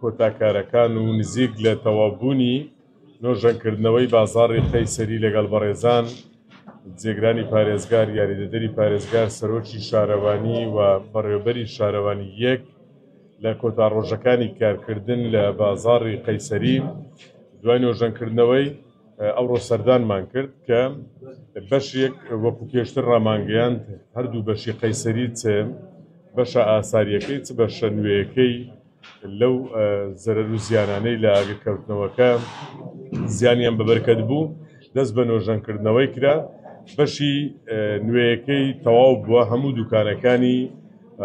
کۆتا کارەکان و نزیک لە تەواو بوونی نۆژەن کردنەوەی بازاڕی قەیسەری لەگەڵ بەڕێزان جێگرانی پارێزگار یاریدەدەری پارێزگار سەرۆکی شارەوانی و بەڕێوبەری شارەوانی یەک لە کۆتا ڕۆژەکانی کارکردن لە بازاڕی قەیسەری دوای نۆژەن کردنەوەی ئەوڕۆ سەردانمان کرد کە بەشێک وەکو پێشتر ڕامانگەیاند هەردوو بەشی قەیسەری چ بەشە ئاساریەکەی چ بەشە نوێیەکەی لەو زەرەر و زیانانەی لە ئاگرکەوتنەوەکە زیانیان بە بەرکەت بوو، دەست بە نۆژەنکردنەوەی کرا، بەشی نوێیەکەی تەواو بووە، هەموو دوکانەکانی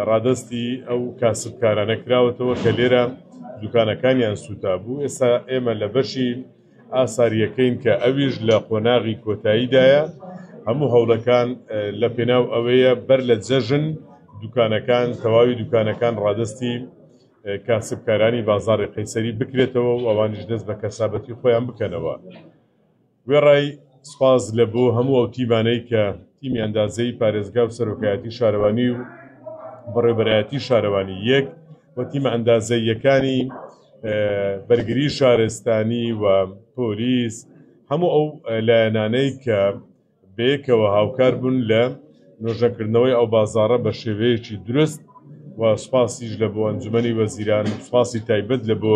ڕادەستی ئەو کاسبکارانە کراوەتەوە کە لێرە دوکانەکانیان سووتابوو، ئێستا ئێمە لە بەشی ئاسارییەکەین کە ئەویش لە قۆناغی کۆتاییدایە، هەموو هەوڵەکان لە پێناو ئەوەیە بەر لە جەژن دوکانەکان، تەواوی دوکانەکان ڕادەستی کاسبکارانی بازاڕی قەیسەری بکرێتەوە و ئەوانیش دەست بە کەسابەتی خۆیان بکەنەوە. وێڕای سوپاس لە بۆ هەموو ئەو تیمانەی کە تیمی ئەندازەیی پارێزگا و سەرۆکایەتی شارەوانی و بەڕێوبەرایەتی شارەوانی یەک، و تیمە ئەندازەییەکانی بەرگری شارستانی و پۆلیس هەموو ئەو لایەنانەی کە بەیەکەوە هاوکار بوون لە نۆژەکردنەوەی ئەو بازارە بە شێوەیەکی درست و سوپاسیش لە بۆ ئەنجومی وەزیران سوپاسی تایبەت لە بۆ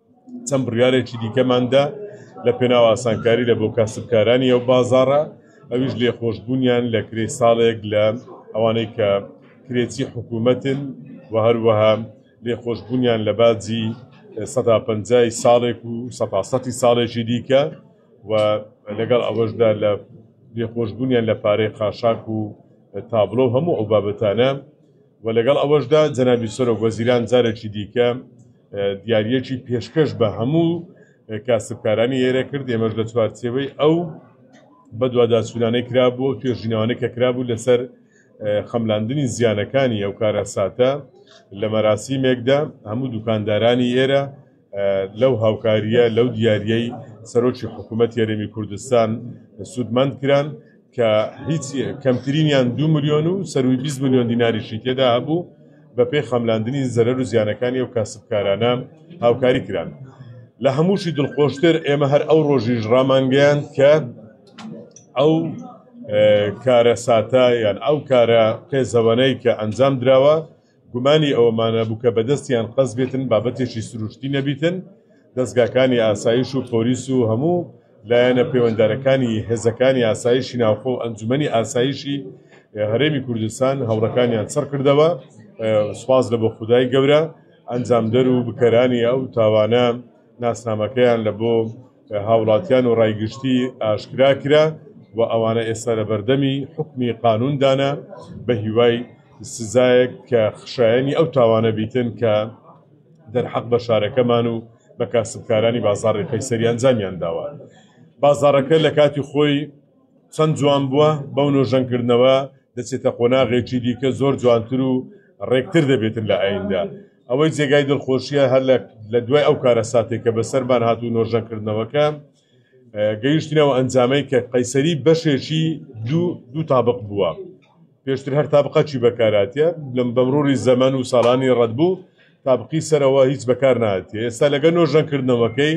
چەند بڕیارێکی دیکەمان دا لە پێناو ئاسانکاری لە بۆ کاسبکارانی ئەو بازاڕە ئەویش لێخۆشبوونیان لە کرێی ساڵێک لە ئەوانەی کە کرێچی حکوومەتن و هەروەها لێخۆشبوونیان لە باجی سەدا پەنجای ساڵێک و سەدا سەتی ساڵێکی دیکە و لەگەڵ ئەوەشدا لە لێخۆشبوونیان لە پارەی خاشاک و تابلۆ هەموو ئەو بابەتانە و لەگەڵ ئەوەشدا جەنابی سەرۆک وەزیران جارێکی دیکە دیاریەکی پێشکەش بە هەموو کاسبکارانی هێرە کرد ئێمەش لە چوارچێوەی ئەو بەدواداچوونانەی کرابوو توێژینەوانە کە کرابوو لەسەر خەملاندنی زیانەکانی ئەو کارەساتە لە مەراسیمێکدا هەموو دوکاندارانی ئێرە لەو هاوکاریە لەو دیارەی سەرۆکی حکوومەت یاریمی کوردستان سوودمەند کران کە هیچ کەمترینیان دوو ملیۆن و سەروی بیست ملیۆن دیناریشی تێدا هەبوو بە پێی خەملاندنی زەرەر و زیانەکانی ئەو کاسبکارانە هاوکاری کران لە هەمووشی دڵخۆشتر ئێمە هەر ئەو ڕۆژیش ڕامانگەیان کە ئەو کارە ساتە یان ئەو کارە قێزەوەنەی کە ئەنجام دراوە گومانی ئەوەمان نەبوو کە بەدەستیان قەز بێتن، بابەتێکی سروشتی نەبیتن، دەزگاکانی ئاسایش و پۆلیس و هەموو لایەنە پەیوەندارەکانی هێزەکانی ئاسایشی ناوخۆ و ئەنجومەنی ئاسایشی هەرێمی کوردستان هەوڵەکانیان چڕ کردەوە، سوپاس لە بۆ خودای گەورە ئەنجامدەر و بکەرانی ئەو تاوانە ناسنامەکەیان لە بۆ هاوڵاتیان و ڕای گشتی ئاشکرا کرا و ئەوانە ئێستا لە بەردەمی حکمی قانوندانە بە هیوای سزایەک کە خشایەنی ئەو تاوانە بیتن کە دەرحەق بە شارەکەمان و بە کاسبکارانی بازاڕی قەیسەری ئەنجامیان داوە بازارەکە لە کاتی خۆی چەند جوان بووە بەو نۆژەنکردنەوە دەچێتە قۆناغێکی دیکە زۆر جوانتر و ڕێکتر دەبێتن لە ئایندە ئەوەی جێگای دڵخۆشیە هەر لە دوای ئەو کارە ساتێک کە بەسەرمان هات و نۆژەنکردنەوەکە گەیشتنەوە ئەنجامەی کە قەیسەری بەشێکی دوو دوو تابق بووە پێشتر هەر تابقەچی بەکاراتە لەم بەمرۆری زەمەن و ساڵانی ڕەت بوو تابقی سەرەوە هیچ بەکار ناتێ ئێستا لەگە نۆژەنکردنەوەکەی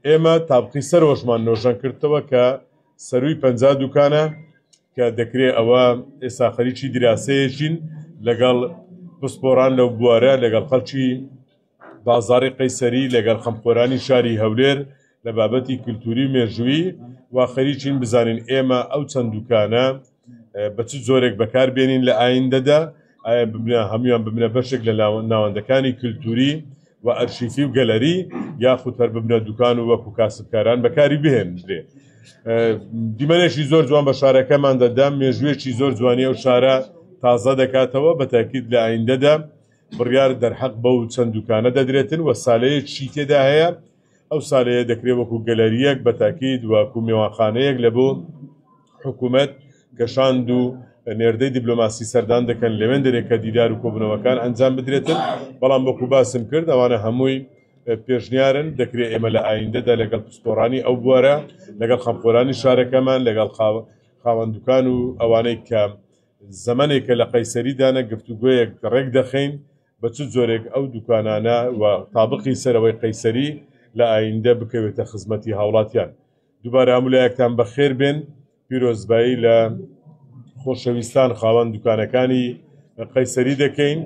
ئێمە تابقی سەرۆشمان نۆژەن کردەوە کە سەرووی پەنجا دوکانە کە دەکرێت ئەوە ئێستا خەریکی دراسەیەکین لەگەڵ پسپۆران لەو بوارە لەگەڵ خەڵکی بازاری قەیسەری لەگەڵ خەمخۆرانی شاری هەولێر لە بابەتی کللتوری و مێژووی و خەریکین بزانین ئێمە ئەو چەند دوکانە بە چ جۆرێک بەکار بێنین لە ئایندەدا ئایا ببنە هەمویان ببنە بەشێک لە ناوەندەکانی کللتوری و ئەرشیفی و گەلەری یاخود هەر ببنە دوکان و وەکو کاسبکاران بەکاری بهێنرێ دیمەنێکی زۆر جوان بە شارەکەمان دەدام مێژوێکی زۆر جوانی و شارە تازە دەکاتەوە بە تاکیت لە ئایندەدا بڕیار دەرحەق بەو چەند دوکانە دەدرێتن و سالەیەکی تێدا هەیە ئەو سالەیە دەکرێت وەکو گەلەریەک بە تاکید وەکو مێوانخانەیەک لە بۆ حکومەت کە شاند و نێردەی دیبلۆماسی سەردان دەکەن لەوێن دەرێ کە دیدار و کۆبنەوەکان ئەنجام بدرێتن بەڵام وەکو باسم کرد ئەوانە هەمووی پێشنیارن دەکرێت ئێمە لە ئایندەدا لەگەڵ پسپۆرانی ئەو بوارە لەگەڵ خەمخۆرانی شارەکەمان لەگەڵ خاوەندکان و ئەوانەی کە زەمنێکە لە قەیسەری دانە گفتوگوۆیەک ڕێک دەخەین بە چ جۆرێک ئەو دوکانانە و تابقی سەرەوەی قەیسەری لە ئایندە بکەوێتە خزمەتی هاوڵاتیان دووبارە هەمولایەکتان بەخێر بێن پیرۆزبایی لە خۆشەویستان خاوەن دوکانەکانی قەیسەری دەکەین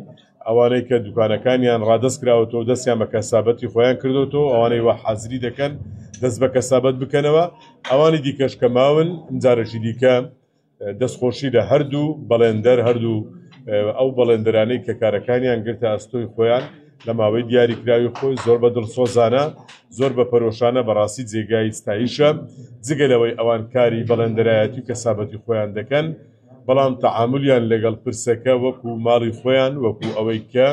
ئەوانەی کە دوکانەکانیان ڕادست کراوەەوە دەستیان بە کەسابەتی خۆیان کردوەوە ئەوانەی وە حازری دەکەن دەست بە کەسابەت بکەنەوە ئەوانی دیکەش کە ماون جارەشی دیکە دەستخۆشی لە هەردوو بەڵێندەر، هەردوو ئەو بەڵێندەرانەی کە کارەکانیان گرتە ئەستۆی خۆیان لە ماوەی دیاریکراوی خۆی، زۆر بە دڵسۆزانە، زۆر بە پەرۆشانە، بەڕاستی جێگای ستایشە، جگە لەوەی ئەوان کاری بەڵێندەرایەتی و کەسابەتی خۆیان دەکەن، بەڵام تەعامولیان لەگەڵ پرسەکە وەکو ماڵی خۆیان، وەکو ئەوەی کە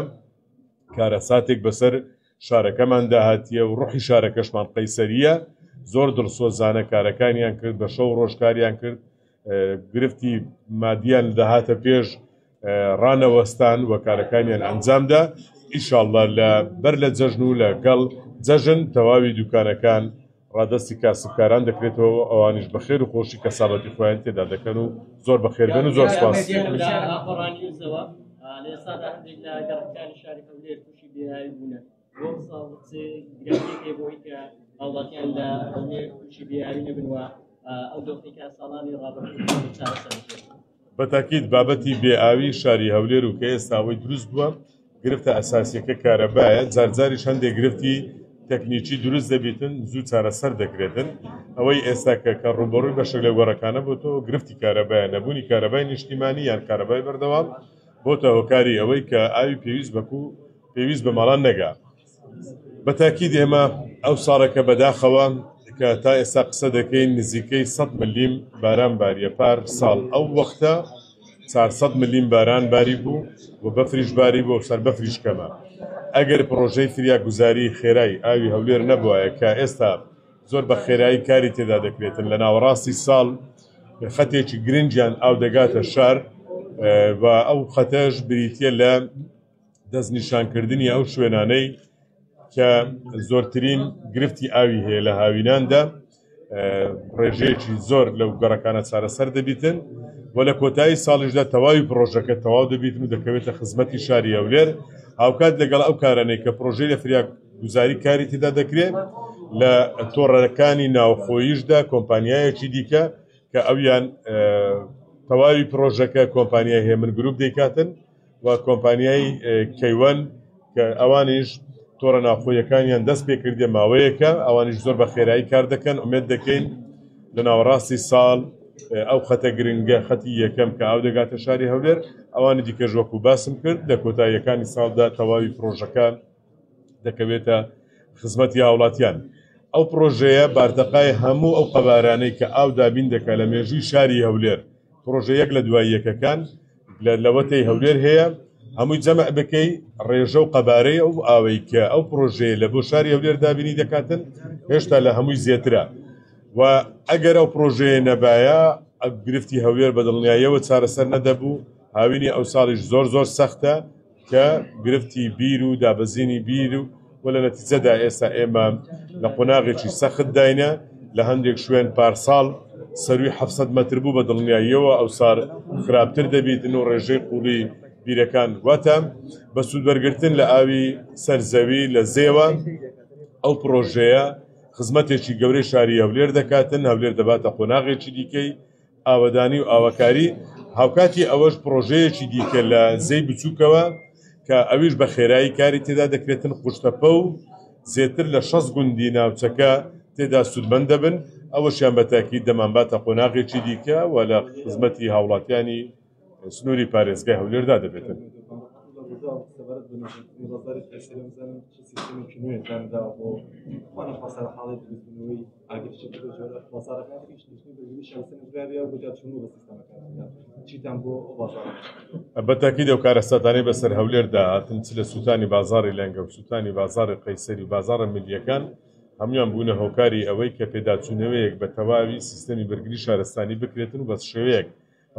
کارەساتێک بەسەر. شارەکەمان داهاتییە و ڕوحی شارەکەشمان قەیسەرییە، زۆر دڵسۆزانە کارەکانیان کرد، بە شەو و ڕۆژ کاریان کرد، گرفتی مادییان دەهاتە پێش، ڕانەوەستان و کارەکانیان ئەنجامدا، ئیشاڵڵا لە بەر لە جەژن و لە گەڵ جەژن تەواوی دوکانەکان ڕادەستی کاسبکاران دەکرێتەوە و ئەوانیش بە خێر و خۆشی کەسابەتی خۆیان تێدا دەکەن و زۆر بە خێربێن و زۆر سوپاس. بەتاکیت بابەتی بێئاوی شاری هەولێر و کە ئێستاوەی دروست بووە گرفتە ئەساسیەکە کارەبایە زارزاری هەندێک گرفتی تەکنیکی دروست دەبیتن زوو چارەسەر دەکرێتن ئەوەی ئێستا کە کە ڕوبڕووی بەشە لە گۆڕەکانە بۆتەوە گرفتی کارەبایە نەبوونی کارەبای نیشتیمانی یان کارەبای بەردەوام بۆتە هۆکاری ئەوەی کە ئاوی پێویست بە کوو پێویست بە ماڵان نەگا. بە تاکید ئێمە ئەو ساڵێکە بە داخەوە کە تا ئێستا قسە دەکەین نزیکەی سەد ملیم باران باریە پار ساڵ ئەو وەختە چار سەد ملیم باران باری بوو و بەفریش باری بوو سەر بەفریش کەمە ئەگەر پڕۆژەی فریاگوزاری خێرای ئاوی هەولێر نەبوایە کە ئێستا زۆر بە خێرایی کاری تێدا دەکرێتن لە ناوەڕاستی ساڵ خەتێکی گرنگیان ئاو دەگاتە شار و ئەو خەتەش بریتە لە دەستنیشانکردنی ئەو شوێنانەی کە زۆرترین گرفتی ئاوی هەیە لە هاویناندا ڕێژەیەکی زۆر لەو گەڕەکانە چارەسەر دەبیتن و لە کۆتایی ساڵیشدا تەواوی پرۆژەکە تەواو دەبیتن و دەکەوێتە خزمەتی شاری هەولێر هاوکات لەگەڵ ئەو کارانەی کە پرۆژەی لە فریاک گوزاری کاری تێدا دەکرێت لە تۆڕەکانی ناوخۆیشدا کۆمپانیایەکی دیکە کە ئەویان تەواوی پرۆژەکە کۆمپانیای هێمن گروپ دەیکاتن و کۆمپانیای کەیوەن کە ئەوانیش تۆڕە ناوخۆیەکانیان دەست پێ کردێ ماوەیەکە ئەوانیش زۆر بە خێرایی کار دەکەن ئومێت دەکەین لە ناوەڕاستی ساڵ ئەو خەتە گرنگە خەتی یەکەم کە ئاو دەگاتە شاری هەولێر ئەوانی دیکەژوەکو باسم کرد لە کۆتاییەکانی ساڵدا تەواوی پرۆژەکان دەکەوێتە خزمەتی هاوڵاتیان. ئەو پڕۆژەیە بارتەقای هەموو ئەو قەبارانەی کە ئاو دابین دەکا لە مێژووی شاری هەولێر، پڕۆژە یەک لە دوای یەکەکان لە لەوەتەی هەولێر هەیە، هەمووی جەمع بکەی ڕێژە و قەبارەی ئەو ئاوەی کە ئەو پڕۆژەیە لە بۆ شاری هەولێر دابینی دەکاتن هێشتا لە هەمووی زێترە و ئەگەر ئەو پڕۆژەیە نەبایە گرفتی هەولێر بە دڵنیایەوە چارەسەر نەدەبوو، هاوینی ئەوساڵیش زۆر زۆر سەختە. کە گرفتی بیر و دابەزینی بیر و و لە نەتیجەدا ئێستا ئێمە لە قۆناغێکی سەختداینە، لە هەندێک شوێن پارساڵ سەرووی حەفت سەد مەتر بوو بە دڵنیاییەوە ئەوسار خراپتر دەبیتن و ڕێژەی قووڵی بیرەکان واتە بە سوودوەرگرتن لە ئاوی سەر زەوی لە زێوە ئەو پڕۆژەیە خزمەتێکی گەورەی شاری هەولێر دەکاتن، هەولێر دەباتە قۆناغێکی دیکەی ئاوەدانی و ئاوەکاری، هاوکاتی ئەوەش پڕۆژەیەکی دیکە لە زێی بچووکەوە کە ئەویش بە خێرایی کاری تێدا دەکرێتن قوشتەپە و زێتر لە شەست گوندی ناوچەکە تێدا سوودمەند دەبن، ئەوەشیان بە تاکید دەمانباتە قۆناغێکی دیکە و لە خزمەتی هاوڵاتیانی. سنووری پارێزگای هەولێردا دەبێتن. بەتاکی دەو کارەساتانی بەسەر هەولێردا هاتن چ لە سووتانی بازاری لەنگە و سووتانی بازاری قەیسەری بازارە ملیەکان هەموان بوونە هۆکاری ئەوەی کە پێداچوونەوەیەک بە تەواوی سیستەمی بەرگری شارستانی بکرێتن و بەس شێوەیەک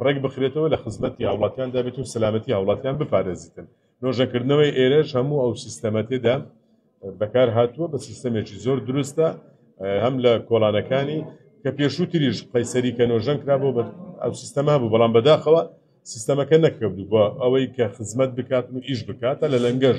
ڕێکبخرێتەوە لە خزمەتی هاوڵاتیاندا بێت و سەلامەتی هاوڵاتیان بپارێزیتن. نۆژەنکردنەوەی ئێرەش هەموو ئەو سیستەمە تێدا بەکارهاتووە، بە سیستەمێکی زۆر دروستە هەم لە کۆڵانەکانی کە پێشووتریش قەیسەری کە نۆژەن کرابوو بە ئەو سیستەما بوو بەڵام بەداخەوە سیستەمەکە نەکردو بۆ ئەوەی کە خزمەت بکات و ئیش بکاتە لە لەنگەش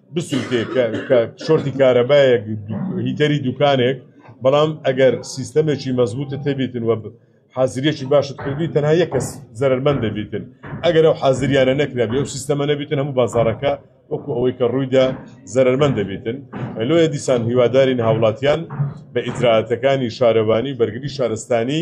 بسووتێ کە کە شۆرتی کارەبایەک دو- هیتەری دوکانێک بەڵام ئەگەر سیستەمێکی مەزبوتە تێبیتن وە ب- حازریەکی باشت کردی تەنها یەک کەس زەرەرمەند دەبیتن ئەگەر ئەو حازریانە نەکرابێ و سیستەمە نەبیتن هەموو بازاڕەکە وەکو ئەوەی کە ڕوویدا زەرەرمەند دەبیتن لۆیە دیسان هیوادارین هاوڵاتیان بە ئیجرائاتەکانی شارەوانی بەرگری شارستانی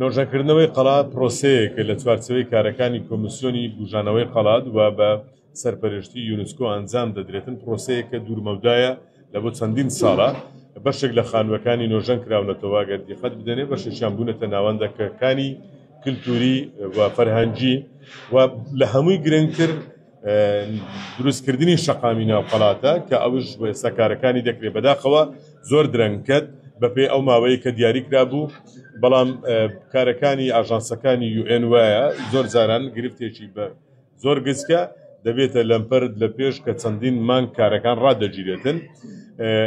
نۆژەنکردنەوەی قەڵا پرۆسەیەکە لە چوارچێوەی کارەکانی کۆمیسیۆنی بوژانەوەی قەڵات و بە سەرپەرشتی یونسکۆ ئەنجام دەدرێتن پرۆسەیەکە دوور مەودایە لە بۆ چەندین ساڵە بەشێک لە خانووەکانی نۆژەن کراونەتەوە گەر دیقەت بدەنێ بەشێکیان بوونەتە ناوەندە کەکانی کلتوری و فەرهەنگی و لە هەمووی گرنگتر دروستکردنی شەقامی ناو قەڵاتە کە ئەوش ئێستا کارەکانی دەکرێت بەداخەوە زۆر درەنگکەت بەپێی ئەو ماوەیە کە دیاری کرابوو بەڵام کارەکانی ئاژانسەکانی یوئێن وایە زۆر زاران گرفتێکی بە زۆر گزکە دەبێتە لەمپەرت لە پێش کە چەندین مانگ کارەکان ڕادەگیرێتن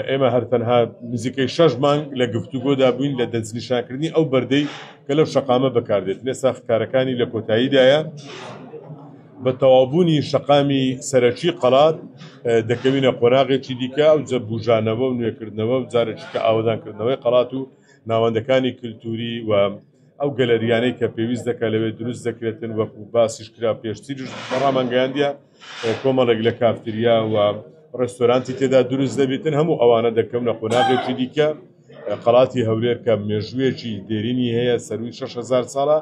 ئێمە هەرتەنها نزیکەی شەش مانگ لە گفتوگۆدا بووین لە دەستنیشانکردنی ئەو بەردەی کە لەو شەقامە بەکاردێت لێسا کارەکانی لە کۆتاییدایە بە تەواوبوونی شەقامی سەرەکی قەڵات دەکەوینە قۆناغێکی دیکە، ئەوجە بوژانەوە و نوێکردنەوە و جارێکیتر ئاوەدانکردنەوەی قەڵات و ناوەندەکانی کلتووری و ئەو گەلەرییانەی کە پێویست دەکات لەوێ دروست دەکرێتن، وەکو باسیش کرا پێشتریش بە ڕامانگەیاندیە کۆمەڵێک لە کافتریا و ڕێستۆرانتی تێدا دروست دەبیتن، هەموو ئەوانە دەکەونە قۆناغێکی دیکە. قەڵاتی هەولێر کە مێژوویەکی دێرینی هەیە سەرووی شەش هەزار ساڵە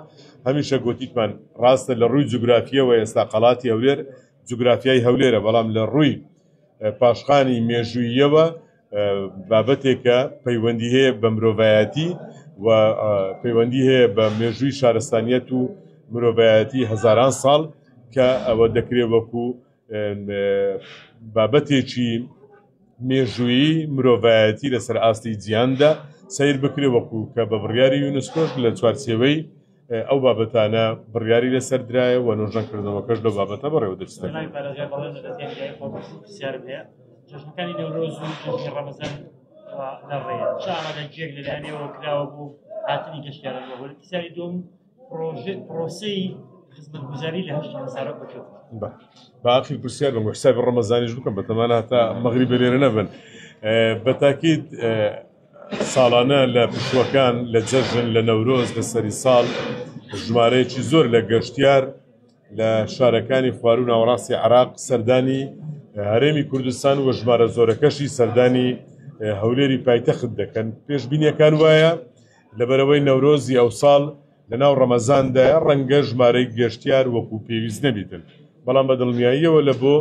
هەمیشە گوتیتمان ڕاستە لە ڕووی جوگرافیەوە ئێستا قەڵاتی هەولێر جوگرافیای هەولێرە بەڵام لە ڕووی پاشخانی مێژوویەوە بابەتێکە پەیوەندی هەیە بە مرۆڤایەتی و پەیوەندی هەیە بە مێژووی شارستانیەت و مرۆڤایەتی هەزاران ساڵ کە ئەوە دەکرێت وەکوو بابەتێکی مێژوویی مرۆڤایەتی لەسەر ئاستی جیاندا سیر بکرێ وەکو کە بە بڕیاری یونسکۆش لە چوارچێوەی ئەو بابەتانە بڕیاری لەسەر درایە و نۆژەکردنەوەکەش لە بابەتە بەڕێوە دەچێت جەژنەکانی نەورۆز و جەژنی ڕەمەزان لە ڕێ چ ئامادەجێک لەلایەنەوە کراوە بوو هاتنی گەشتیارە بەهۆی پرسیاری دوم پرۆسەی خزمەتگوزاری لە هەشت هەزارە بکەوت باقی پرسیار بە حساب ڕەمەزانیش بکەم بە تەمانە هەتا مەغری بەلێرە نەبن بە تاکیت ساڵانە لە پشوەکان لە جەژن لە نەورۆز لە سەری ساڵ ژمارەیەکی زۆر لە گەشتیار لە شارەکانی خوارو ناوەڕاستی عراق سەردانی هەرێمی کوردستان و ژمارە زۆرەکەشی سەردانی هەولێری پایتەخت دەکەن پێشببینیەکان وایە لەبەرئەوەی نەورۆزی ئەوساڵ لەناو ڕەمەزاندایە ڕەنگە ژمارەی گەشتیار وەکو پێویست نەبیتن، بەڵام بە دڵنیاییەوە لە بۆ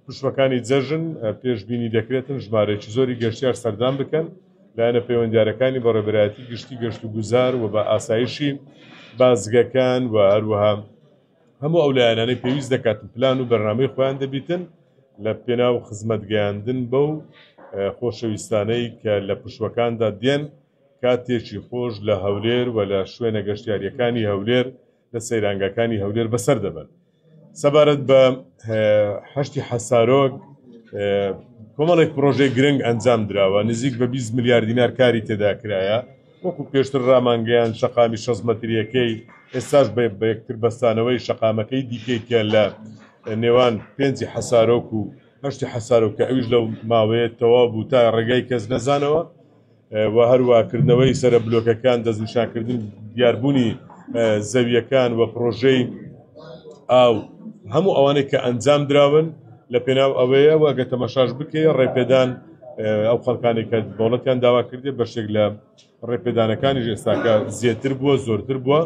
پشووەکانی جەژن پێشبینی دەکرێتن ژمارەیەکی زۆری گەشتیار سەردان بکەن، لایەنە پەیوەندیارەکانی بەڕێوەبەرایەتی گشتی گەشتوگوزار و بە ئاسایشی بازگەکان و هەروەها هەموو ئەو لایەنانەی پێویست دەکاتن پلان و بەرنامەی خۆیان دەبیتن لە پێناو خزمەتگەیاندن بەو خۆشەویستانەی کە لە پشووەکاندا دێن. کاتێکی خۆش لە هەولێر و لە شوێنە گەشتیارییەکانی هەولێر لە سەیرانگاکانی هەولێر بەسەر دەبەن. سەبارەت بە حەشتی حەسارۆک کۆمەڵێک پرۆژەی گرنگ ئەنجام دراوە نزیک بە 20 ملیار دینار کاری تێدا کرایە وەکو پێشتر ڕامانگەیان شەقامی شەست مەتریەکەی ئێستاش بە بەیەکتر بەستانەوەی شەقامەکەی دیکەی کە لە نێوان پێنجی حەسارۆک و هەشتی حەسارۆک کە ئەویش لەو ماوەیە تەواو بوو تا ڕێگای کەس نەزانەوە و هەروا کردنەوەی سەرە بلۆکەکان دەستنیشانکردن دیاربوونی زەویەکان و پڕۆژەی ئاو هەموو ئەوانەی کە ئەنجام دراون لە پێناو ئەوەیە و گە تەمەشاش بکەی ڕێپێدان ئەو خەڵکانی کە دەوڵەتیان داوا کردێ بەشێک لە ڕێپێدانەکانی ژێستاکە زیاتر بووە زۆرتر بووە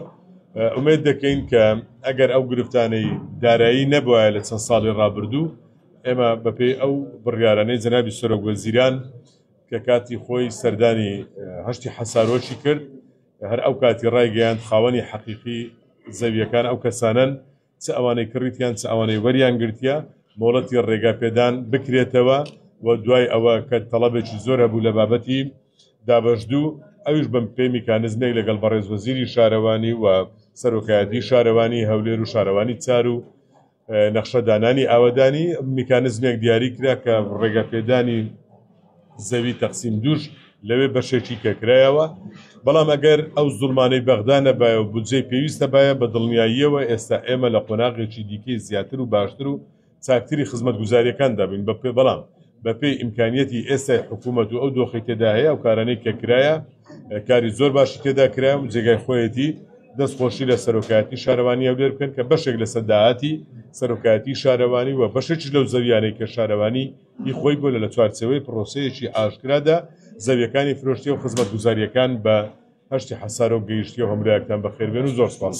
ئومێد دەکەین کە ئەگەر ئەو گرفتانەی دارایی نەبووە لە چەند ساڵی ڕابردوو ئێمە بەپێی ئەو بڕیارانەی جەنابی سەرۆک وەزیران کە کاتی خۆی سەردانی هەشتی حەسارۆکی کرد، هەر ئەو کاتی ڕایگەیاند خاوەنی حەقیقی زەوییەکان ئەو کەسانەن، چ ئەوانەی کڕیتیان چ ئەوانەی وەریان گرتیە، مۆڵەتی ڕێگا پێدان بکرێتەوە و دوای ئەوە کە تەڵەبێکی زۆر هەبوو لە بابەتی دابەشدوو ئەویش بە پێی میکانزمێک لەگەڵ بەڕێز وەزیری شارەوانی و سەرۆکایەتی شارەوانی هەولێر و شارەوانی چار و نەخشە دانانی ئاوەدانی میکانزمێک دیاری کرا کە ڕێگەپێدانی زەوی تەقسیم دوش لەوێ بەشێکی کەکرایەوە بەڵام ئەگەر ئەو زڵمانەی بەغدا نەبایە و بودجەی پێویستە باە بە دڵنیاییەوە ئێستا ئێمە لە قۆناغێکی دیکەی زیاتر و باشتر و چاکتری خزمەت گوزاریەکان دابین بە پێ بەڵام بەپێی ئیمکانیەتی ئێستای حکوومەت و ئەو دۆخی تێدا هەیە ئەو کارانەی کە کرایە کاری زۆر باشی تێدا کرا و جێگای خۆیەتی دەست خۆشی لە سەرۆکایەتی شارەوانی هەولێر بکەن کە بەشێک لە سەداهاتی سەرۆکایەتی شارەوانی و بەشێکیش لەو زەویانەی کە شارەوانی هی خۆی بۆ لە لە چوارچەوەی پرۆسەیەکی ئاشکرادا زەویەکانی فرۆشتی و خزمەت گوزاریەکان بە هەشتی حەسارۆ گەیشتی و هەمراکتان بەخێربێن و زۆر سپاس.